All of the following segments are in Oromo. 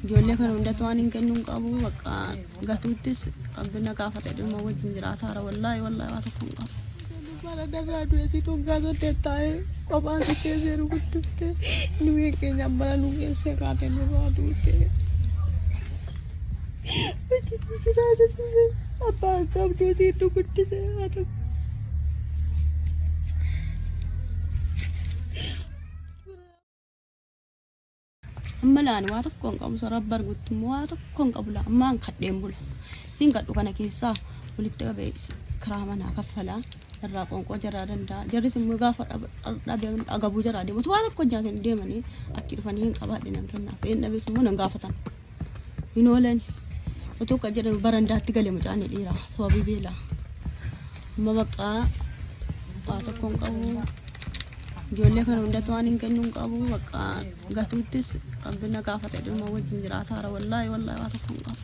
Ijoollee kana hundatti waan hin kennuun qabu bakka gatuuttis qabbina gaafate dhimma wajjin jiraataara wallaahi wallaahi waa tokko hin qabu. Bara darraa du'eetii toggaa saddeet taa'ee qophaan si keessee rukuttuftee nu eeggeenya bara nu keessee kaatee nurraa duutee. Bakkitti jiraatee abbaa akka abduu si iddoo guddisee haa ta'u. Amma laani waa tokko hin qabu sarara bargutti immoo waa tokko hin qabu laa ammaan kadheen bula. Siin kadhu kana keessaa walitti qabee kiraa manaa kaffalaa irraa qoonqoo jaraa danda'a. Jarris immoo gaafa dhabeeman agabuu jaraa deematu waa tokko hojjaatanii deemanii achi dhufanii hin qabaadhe nan kennaaf. Een dhabees immoo nan gaafatan. hin oolan otoo kan jedhan barandaatti gale mucaan dhiira sababii beela amma bakka waa tokko hin qabu ijoollee kana hundatti waan hin kennu hin qabu bakka gatuuttis qabbina gaafata dhimma wajjin jiraataara wallaahi wallaahi waa tokko hin qabu.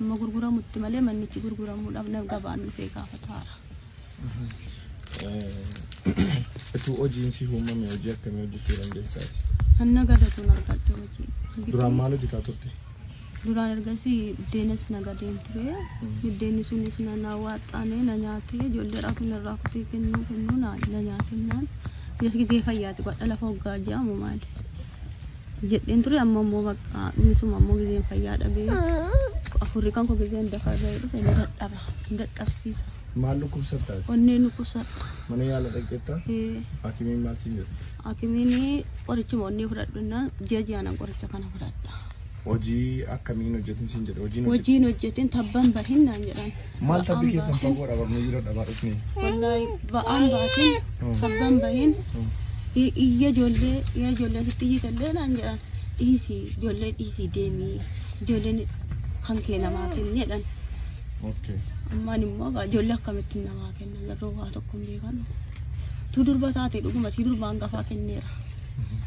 Amma gurguramutti malee mannichi gurguramuudhaaf nama gabaan dhufee gaafataara. Utuu hojiin si uumame hojii akkamii hojjechuu dandeessaa? Hanna gadatuun argadhe hojii. Duraan maal hojjetaa turte? Duraan ergasii biddeenas nagadeen ture. Biddeenni sunis na na waaxxaane na nyaatee ijoollee raafin irraa kutee kennuu kennuu na na nyaatennaan. Yes gizee fayyaati godha lafa hoggaa jaamu maali. jedheen ture amma immoo bakka dhumisuma ammoo gizeen fayyaa dhabee afurri kan koo gizeen dafaa ga'ee dhufe na dadhaba na dadhabsiisa Maal dhukkubsattaati? onneen dhukkubsata Mana yaala dhaqxetta? Eh, Hakimiin maal siin jedhe? hakimiin qorichuma onnee fudhadhu innaan ji'a ji'aanan qoricha kana fudhadha Hojii akkamiin hojjetin siin jedhe? Hojiin hojjetin hojiin hojjetin tabban bahin naan jedhan Maal tabbi keessan fagoo dha barnuu jira dhabaa dhufne. Wallahi ba'aan baatiin tabbaan bahin iyya ijoollee iyya ijoollee sitti iyyitallee naan jedhan dhiisi ijoollee dhiisi deemii ijoolleen kan kee namaa kenni jedhan. Okay. Ammaan immoo egaa ijoollee akkamittiin namaa kenna garuu waa tokko hin beekan. Tu durba taate dhuguma si durba hangafaa kenneera.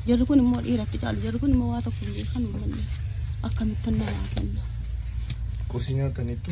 Jarri kun immoo dhiiratti caalu jarri kun immoo waa tokko hin beekan uummanni akkamittiin namaa kenna. Qursii nyaataniittu?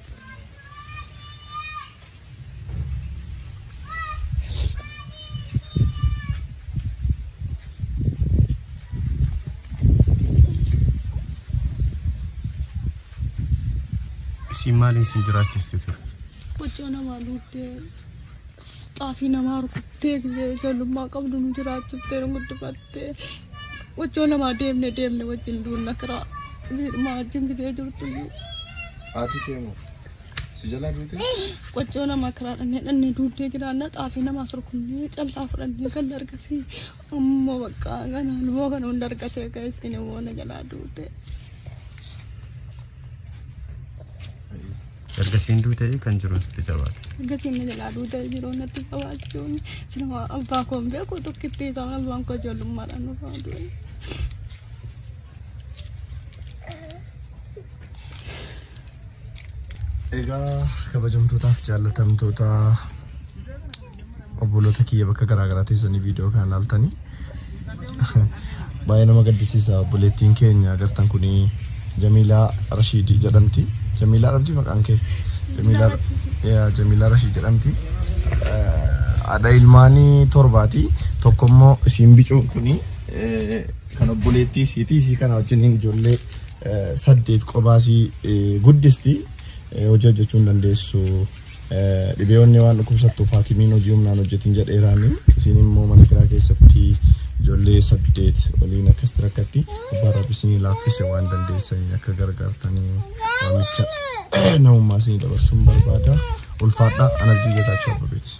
Isiin maaliin sin jiraachiste ture? Hojii namaa luuddee xaafii namaa rukuttee biyya ijoollummaa qabdu nu jiraachiftee nu guddifatte. Wajjoo lamaa deemne deemne wajjin duunna kiraa siidhuma wajjin gidee jirtu iyyuu. Haati kee moo? Si jalaa duute? Wajjoo lama kiraa dhannee dhannee duunnee jiraanna xaafii namaa sorkunnee callaa fudhannee kan dargasii amma bakka kana lumoo kana hunda argatee kan isin immoo na jalaa duute. Erga siin duute kan jiruun sitti jabaate. Erga siin na jalaa duute jiruun natti qabaachuun siluma abbaa koo hin beeku tokkitti ta'an abbaan koo ijoollummaadhaan nufaa du'e. Egaa kabajamtootaaf jaallatamtootaa Obboloota kiyya bakka garaa garaa teessanii viidiyoo kana ilaaltanii baay'ee nama gaddisiisa obboleettiin keenya agartan kun Jamiilaa Rashiid jedhamti. Jamiilaa dhabdi maqaan kee? Jamiilaa yaa Jamiilaa Rashiid jedhamti. Haadha ilmaanii torbaati. Tokko immoo isiin bicuun kun kan obboleettii isiiti. Isii kana wajjin ijoollee eh, saddeet qobaasii eh, guddisti. Eh, Hojii hojjechuu hin dandeessu. Dhibee onnee waan dhukkubsattuuf haakimiin hojii humnaan hojjetin jedheeraani. Isiin immoo mana kiraa keessatti ijoollee saddeet waliin akkasitti rakkatti. Abbaan rabbi isinii laaffise waan dandeessaniin akka gargaartanii waamicha namummaa isinii dabarsuun barbaada. Ulfaadhaa anarjii geetaachoo abbabeeti.